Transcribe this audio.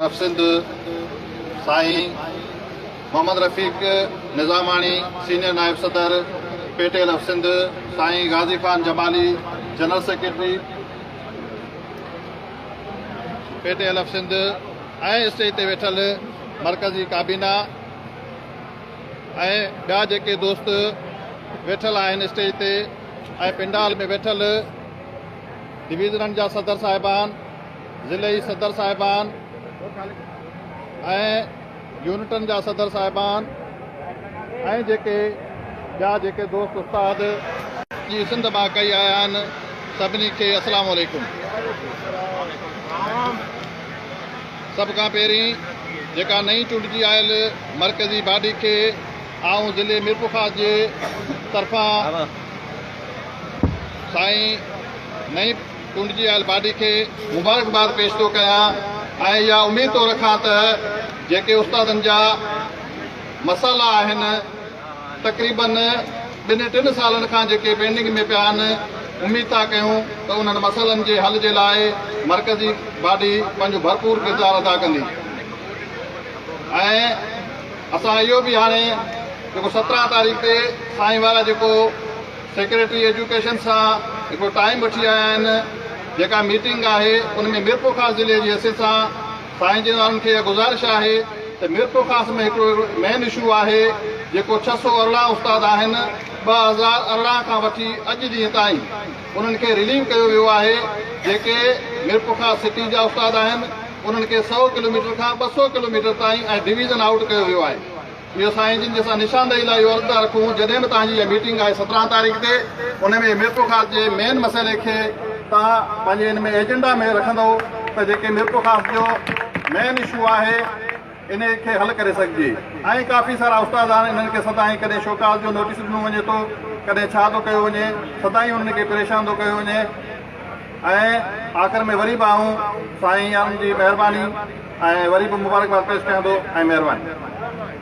اف سنڌ سائين محمد رفيق نظاماڻي سينيئر نائب صدر P T L of Sindh سائين Ghazi Khan Jamali general secretary P T L of Sindh ۽ stage تي ويٺل مرڪزي ڪابينا ۽ ٻيا جيڪي دوست ويٺل آهن اسٽيج تي ۽ پنڊال ۾ ويٺل ڊويزنن جا صدر صاحبان ضلعي صدر صاحبان ۽ يونٽن جا صدر صاحبان ۽ جيڪي ٻيا جيڪي دوست استاد جي سنڌ مان ڪئي آيا آهن سڀني کي اسلام عليڪم سڀ کان پهرين جيڪا نئين چونڊجي آيل مرڪزي باڊي کي آئون ضلعي ميرپورخاص جي طرفان سائين نئين ٽنڊجي آيل باڊي کي مبارڪباد پيش ٿو ڪيان ۽ اها اميد ٿو رکان ته جيڪي استادن جا مسئلا آهن تقريبن ٻن ٽن سالن کان جيڪي پينڊنگ ۾ پيا آهن اميد ٿا ڪيون ته انهن مسئلن جي حل جي لاء مرڪزي باڊي پنهنجو ڀرپور ڪردار ادا ڪندي ۽ اسان اهو به هاڻي جيڪو سترهن تاريخ تي سائين وارا جيڪو سيڪريٽري ايجوڪيشن سان هڪڙو ٽائيم وٺي آيا آهن جيڪا ميٽنگ آهي ان ۾ ميرپورخاص ضلعي جي حيثيت سان سائين جن وارن کي اها گذارش آهي ته ميرپورخاص ۾ هڪڙو مين اشو آهي جيڪو ڇهه سؤ ارڙهن استاد آهن ٻه هزار ارڙهن کان وٺي اڄ ڏينهن تائين انهن کي رليو ڪيو ويو آهي جيڪي ميرپورخاص سٽي جا استاد آهن انهن کي سؤ ڪلوميٽر کان ٻه سؤ ڪلوميٽر تائين ۽ ڊويزن آئوٽ ڪيو ويو آهي اهو سائين جن جي اسان نشاندهي لاء اهو القاء رکون جڏهن به توهان جي اها ميٽنگ آهي سترهن تاريخ تي ان ۾ ميرپور خاص جي مين مسئلي کي توهان پنهنجي ان ۾ ايجنڊا ۾ رکندو ته جيڪي ميرپور خاص جو مين اشو آهي ان کي حل ڪري سگهجي ۽ ڪافي سارا استاد آهن انهن کي سدائين ڪڏهن شوڪاز جو نوٽيس ڏنو وڃي ٿو ڪڏهن ڇا ٿو ڪيو وڃي سدائين انهن کي پريشان ٿو ڪيو وڃي ۽ آخر ۾ وري به آئون سائين جي مهرباني ۽ وري به مبارڪباد پيش ڪيان ٿو ۽ مهرباني